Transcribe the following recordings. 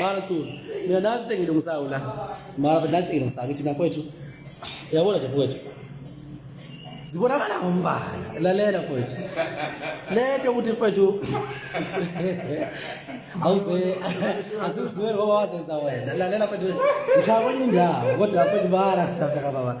mara tu mina nazi into engilungisayo la mara but nazi engilungisayo ngithi nakwethu uyabona nje fukwethu zibonakala ngombala lalela fukwethu le nto yokuthi fukwethu awuzeasizweli ngoba wazenza wena lalela fukwethu ngishaya kwenye indawo kodwa fukwethu bala kuthapha kababa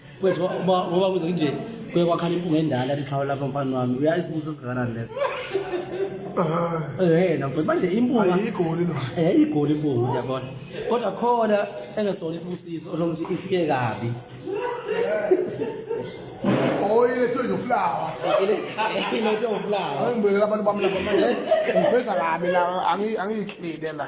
kwethu ngoba kuze kunje kuye kwakhala impunga endala liqhawe lapha mfana wami uya isibuso sikanani leso yena mfowethu manje impunga igoli no eh igoli impunga uyabona kodwa khona engesona isibusiso onokuthi ifike kabi oyilethwe noflawa ilethwe noflawa angibekela abantu bamlaba manje ngiveza kabi la angiyihlile la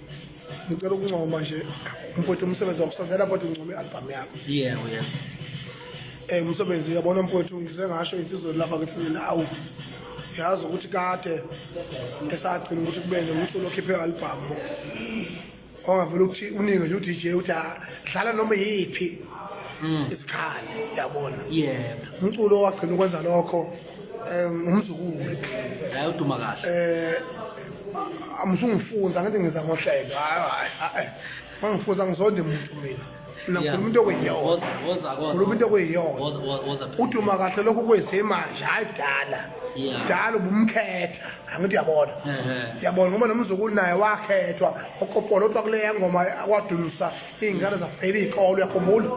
ngicela ukuncoma nje mfowethu umsebenzi wakusondela kodwa uncoma i-albhamu yakho yebo yebo um umsebenzi uyabona mfowethu ngize ngasho insizweni lapha kethini awu yazi ukuthi kade esagcina ukuthi kube nomculo okhiphe i-albhamu ongavele ukuthi uningi nje udj uthi ah, dlala noma yiphi mm. isikhali yabona umculo wagcina ukwenza lokho um umzukulu hayi uduma kahle eh amusungifunza ngithi ngiza ngohlelo hayi hayi hayi mangifunza ngizonde muntu mina nakhuluma into okuyiyona woza woza woza khuluma into okuyiyona woza woza woza uduma kahle lokho kwenze manje hayi kudala Yeah. kudala ubumkhetha angithi uyabona Ehhe. uyabona ngoba nomzukulu naye wakhethwa okopolo otwa kuleya ngoma akwadunusa iy'ngane zafela iy'kolo uyakhumbula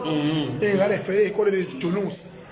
iy'ngane zifela iy'kolo bezidunusa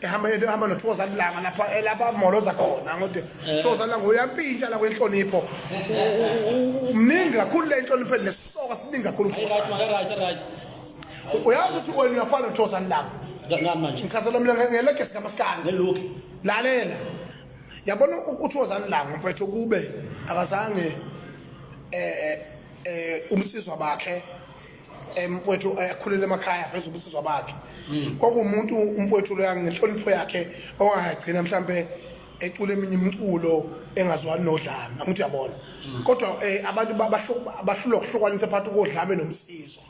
ehamba yena ehamba nothokoza lilanga lapha eh, lapha amoloza khona ngokuthi eh. thokoza lilanga uyampintsha la kwenhlonipho umningi kakhulu le inhlonipho nesisoka siningi kakhulu uyazi ukuthi wena uyafana nothokoza lilanga ngani manje ngikhathele mina ngelekesi kamasikani ngeloki lalela yabona uthokoza lilanga mfethu kube akazange eh eh umsizwa bakhe mfowethu eh, akhulele emakhaya veze ubusizwa bakhe hmm. kwakuwumuntu umfowethu loya ngenhlonipho yakhe owangagcina mhlampe ecula eminye imiculo engazwani nodlame angithi uyabona hmm. kodwa eh, abantu bahlulwa ukuhlukanisa phakathi kodlame nomsizwa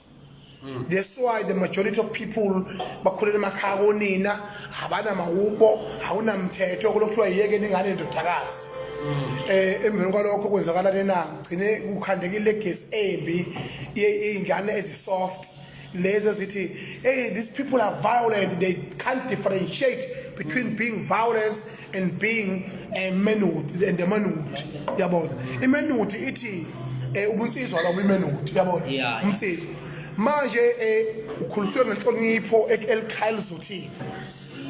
hmm. that's why the majority of people bakhulela emakhaya konina abanamawubo awunamthetho kulokuthiwa yiyeke ningane ndodakazi um emveni kwalokho kwenzakalani na gcine kukhandekile le gesi embi iy'ngane ezisoft lezi ezithi hey these people are violent they can't differentiate between mm. being violence and being a eh, manhood and the manhood yabona imanhood ithi eh, ubunsizwa lobo imanhood yabona umsizwa manje eh, ukhuliswe ngenhlonipho elikhaya lizothini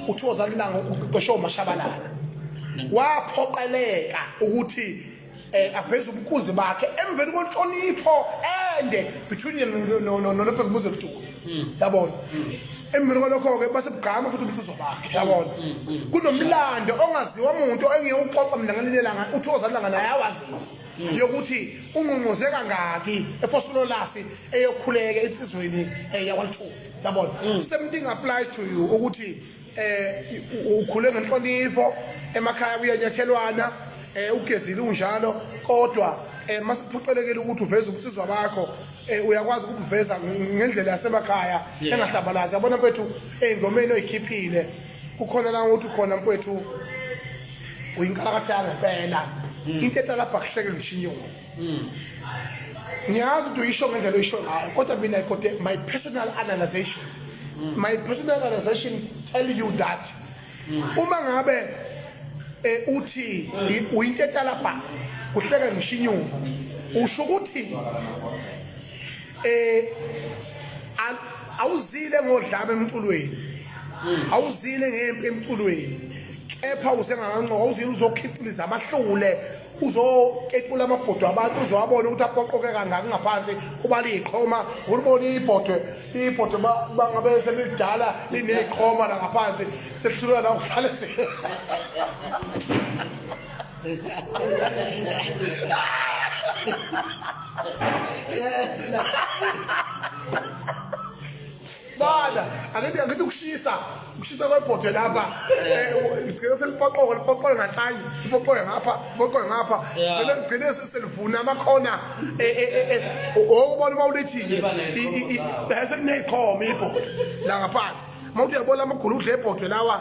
uthi wozalilanga uqeshe umashabalala waphoqeleka ukuthi eh aveza ubunkunzi bakhe emveni konhlonipho ende between yena no no no no Bhekumuzi Mduku yabona emveni kwalokho ke base bugqama futhi umsizo bakhe yabona kunomlando ongaziwa umuntu engeke uxoxa mina ngelinye langa uthi ozalanga naye awazi yokuthi ungqungquze kangaki efosololasi eyokhuleka insizweni eh, yakwalithuba yabona same thing applies to you ukuthi eh ukhule ngenhlonipho emakhaya kuyanyathelwana eh ugezile unjalo kodwa eh masiphoqelekile ukuthi uveze ubusizwa bakho eh uyakwazi ukuveza ngendlela yasemakhaya engahlabalazi yabona mfethu engomeni oyikhiphile kukhona la ukuthi khona mfethu uyinkalakatha yangempela into etalabha kuhleke ngishinyoni ngiyazi ukuthi uyisho ngendlela oyisho ngayo kodwa mina kodwa my personal analyzation my personal analyzation tell you that uma ngabe eh, uthi uyintetalabha kuhleka ngishinyuka usho ukuthi eh awuzile ngodlame emculweni awuzile ngempi emculweni kepha usengakancoka awuzile uzokhixiliza amahlule uzokekula amabhodwe abantu uzowabona ukuthi aqoqoke kangaki ngaphansi uba liyiqhoma ulibona ibhodwe ibhodwe bangabe selidala lineyiqhoma la ngaphansi selihlulwa la ukuhlale Yeah. Bala, angithi angithi ukushisa, ukushisa kwebhodwe lapha. Eh, ngicela selipoqoka, lipoqoka ngathayi, lipoqoka ngapha, lipoqoka ngapha. Ngicela ngicela selivuna amakhona. Eh eh eh, eh. Okubona uma ulithile. Bese kunekhoma ibhodwe la ngaphansi. Mawuthi uyabona amagulu udle ibhodwe lawa.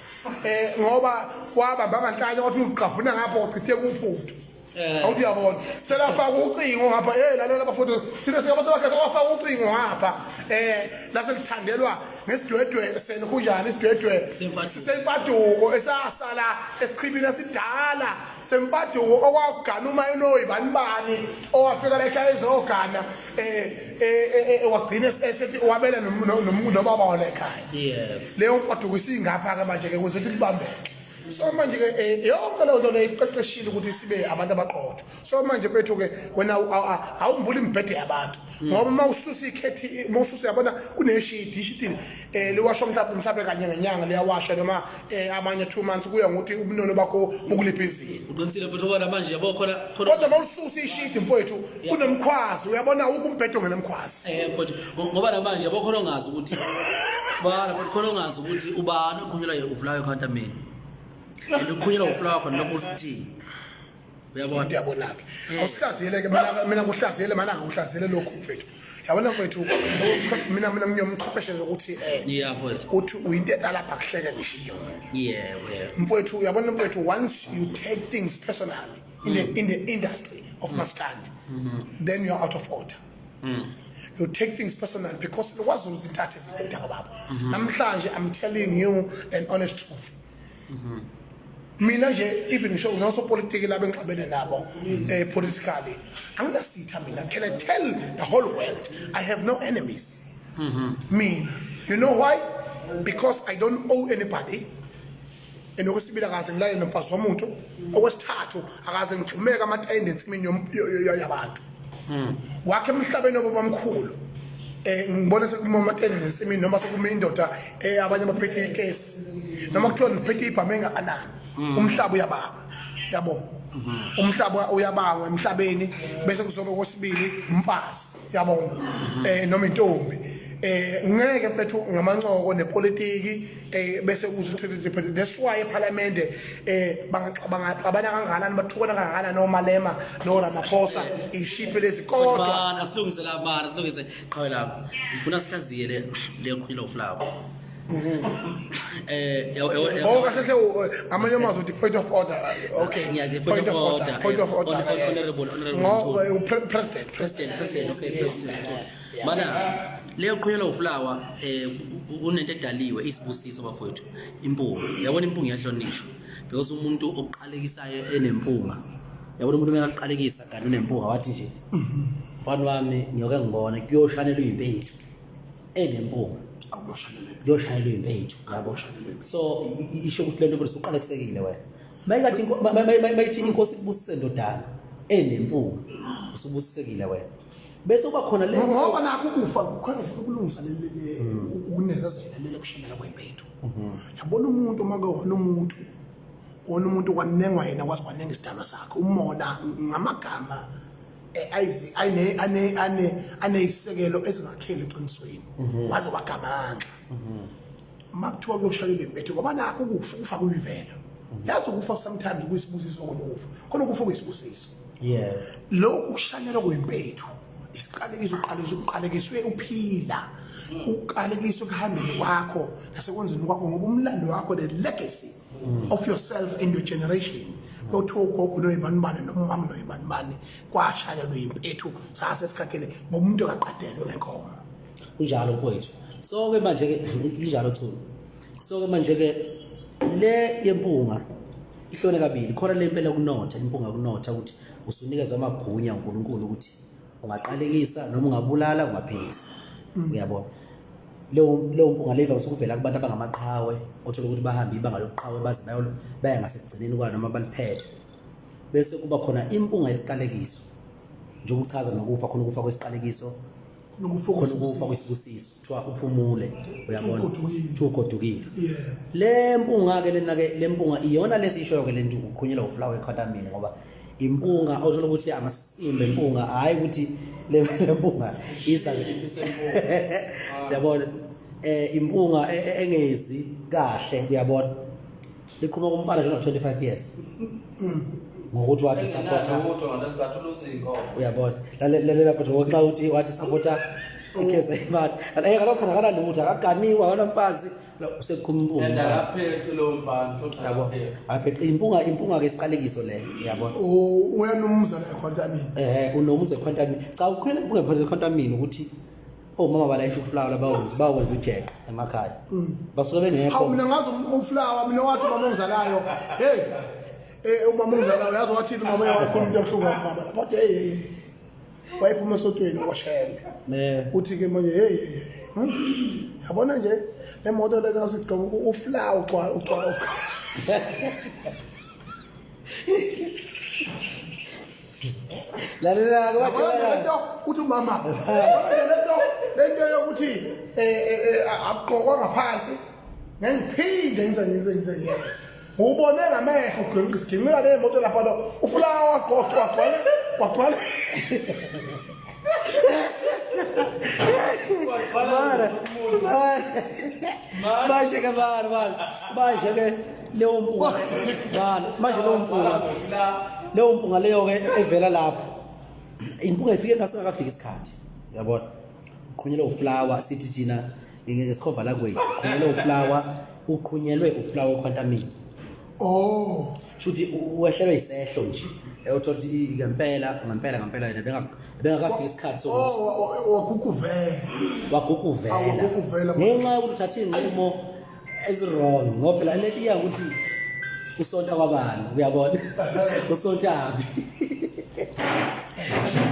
eh ngoba kwaba banganhlanya wathi uqhavuna ngapho uchithe kuphuthu eh. awuthi yabona selafaka ucingo ngapha hey lalela bafowethu thina singaba sebakhe sewafaka ucingo ngapha eh lase lithandelwa ngesidwedwe senu kunjani isidwedwe sisempaduko esasala esichibini esidala sempaduko okwagana uma enoyi bani bani owafika la ekhaya ezogana eh, eh, eh wagcina esethi wabela nobaba wona ekhaya leyo nkwaduko isingapha-ke manje-ke kuze ukuthi kubambeke so manje-ke um yonke leyo nto leyo isiqeqeshile ukuthi sibe abantu abaqotho so manje kwethu-ke wena awumbuli imibhede yabantu ngoba uma ususa ikhethi uma ususa yabona kuneshidi ishidi um eh, liwashwa mhlawumbe mhlawumbe kanye ngenyanga liyawashwa noma um amanye two months kuya ngokuthi ubunono bakho bukuliphi izinga uqinisile futhi ubona manje yabo khona kodwa uma ususa ishidi mfowethu kunomkhwazi uyabona ukumbhede ongenomkhwazi um ngoba namanje abakhona ongazi ukuthi bana but khona ongazi ukuthi ubani okhulunyelwa ye ufulayo khanta mina and ukhulunyelwa ufulayo khona noma uthini uyabona uyabonake eh. awusihlaziyeleke mina kuhlaziyele mana ngikuhlaziyele lokhu mfethu yabona mfethu mina mina ngiyomchwepheshe ukuthi eh uthi uyinto etalapha kuhleke ngisho iyona yeah mfethu uyabona mfethu once you take things personally in the in the industry of mm. maskandi mm-hmm. then you are out of order mm. you take things personal because kwaZulu izintathe zibheda kababa mhm. namhlanje i'm telling you an honest truth mhm. mina nje even ngisho nginosopolitiki laba engixabene nabo mhm. eh politically anginasitha mina can i tell the whole world i have no enemies mina you know why because i don't owe anybody and okwesibili akaze ngilale nomfazi womuntu okwesithathu akaze ngigxumeke amatayende ensimini yabantu hmm. wakhe emhlabeni obabamkhulu eh ngibona sekuma amatende ensimini noma sekuma indoda eh abanye baphethe ikesi noma kuthiwa ngiphethe ibhame engakanani hmm. umhlaba uyababa yabo hmm. umhlaba uyabangwa emhlabeni bese kuzobe kwesibili umfazi yabona um eh, noma intombi eh ngeke mfethu ngamancoko nepolitiki eh bese uze uthole nje phela that's why ephalamende eh bangacabanga kangakanani bathukana kangakanani nomalema no Ramaphosa ishipe lezi kodwa bana silungise la bana silungise qhawela ngifuna sihlaziye le le khulilo flower eh oh kahle amanye amazwi uthi point of order okay ngiyazi point of order point of order honorable honorable president president president okay president mana leyo qhuyela uflower eh kunento edaliwe isibusiso bafowethu impunga yabona impunga iyahlonishwa because umuntu oqalekisayo enempunga yabona umuntu mekaqalekisa kanti unempunga wathi nje mfana wami ngiyoke ngibone kuyoshanela uyimpethu enempunga kuyoshanelwa impethu so isho ukuthi lento bese uqalekisekile wena mayikathi mayithi inkosi kubusise ndodana enempunga usubusisekile wena bese uba khona le ngoba nakho ukufa kukhona ufuna ukulungisa ukunezezela lele kushanela kwempethu mhm. yabona umuntu uma kuyona umuntu ona umuntu kwanengwa yena kwazi kwanenga isidalwa sakhe umona ngamagama aneyisekelo ezingakheli eqinisweni mhm. waze wagamanxa mhm. uma kuthiwa kuyoshaya ibempethe ngoba nakho ukufa ukufa kuyivela mhm. yazi ukufa sometimes kuyisibusiso konokufa khona ukufa kuyisibusiso lokhu kushanyelwa kwimpethu isiqalekiso uqalekiswe uqalekiswe uphila uqalekiswe kuhambeni kwakho nasekwenzeni kwakho ngoba umlando wakho ne-legacy mm. of yourself and your generation lothi ogogo noyibanibane nomama noyibanibane kwashaya loyimpethu sase sikhathele ngomuntu akaqadelwe ngenkomo kunjalo mfowethu so ke manje ke injalo thulu so ke manje ke le yempunga ihlone kabili khona le mpela kunotha impunga kunotha ukuthi usunikezwa amagunya uNkulunkulu ukuthi ungaqalekisa noma ungabulala ungaphikisa mm. uyabona leyo leyo mpunga leva usukuvela kubantu abangamaqhawe othola ukuthi bahambe ibanga lokuqhawe baze bayolo baya ngasekugcineni kwa noma baliphethe bese kuba khona impunga yesiqalekiso njengoba uchaza nokufa khona ukufa kwesiqalekiso khona ukufa kwesibusiso kuthiwa uphumule uyabona kuthiwa ugodukile le mpunga-ke lena-ke le mpunga iyona lesiyishoyo-ke le nto uqhunyelwa ufulawa ekhatamini ngoba impunga othola ukuthi amasimba impunga hayi ukuthi le mpunga iza yabona eh impunga e, e, engezi kahle uyabona iqhuma kumfana nje 25 years ngokuthi wathi supporta umuntu ngesikhathi uluza inkomo uyabona lalela futhi ngoxa uthi wathi supporta ikeze imali and ayeka losikhathi akanalutho akaganiwa akanamfazi useqhumpungaapheqa impunga impunga ke isiqalekiso leyo yabona uyanumuza la ekhwantamini eh unomuza ekhwantamini cha ukhwela impunga phakathi ekhwantamini ukuthi omama oh, balayisha ufulawa bawenza bawenza ujeqe emakhaya mm. basuke bengekho hawu mina ngazi ufulawa mina wathi mama ongizalayo hey eh umama ongizalayo yazi wathini mama yakho umuntu obuhlungu mama but hey wayephuma esotweni washele uthi ke manje hey hmm? yabona nje le moto le kasigqoka ufla ugcwala ugcwala lalela ke wathi uthi umama lento lento yokuthi eh, eh, eh, akugqokwa ngaphansi ngengiphinde ngize ngize ngize ngize Ubone ngamehlo ugwemka isiginqika nemoto lapha lo. Ufulawa wagqoqa wagcwala wagcwala. Mara. Mara. Manje ke mara mara. Manje ke leyo mpunga. Mara. Manje leyo mpunga. Leyo mpunga leyo ke evela lapha. Impunga ifike ngasingakafiki isikhathi. Yabona? Qhunyelwa ufulawa sithi thina ngesikhova language qhunyelwe uflower uqhunyelwe uflower okhwantamini oh shuthi uwehlelwe isehlo nje eyothola ukuthi ngempela ngempela ngempela yena bengakafika isikhathi sokuthi oh, oh, oh, waguguvela waguguvela ngenxa yokuthi uthathe iy'nqumo ezi-wrong ngoba phela lethi iya ukuthi usonta kwabani uyabona usontaphi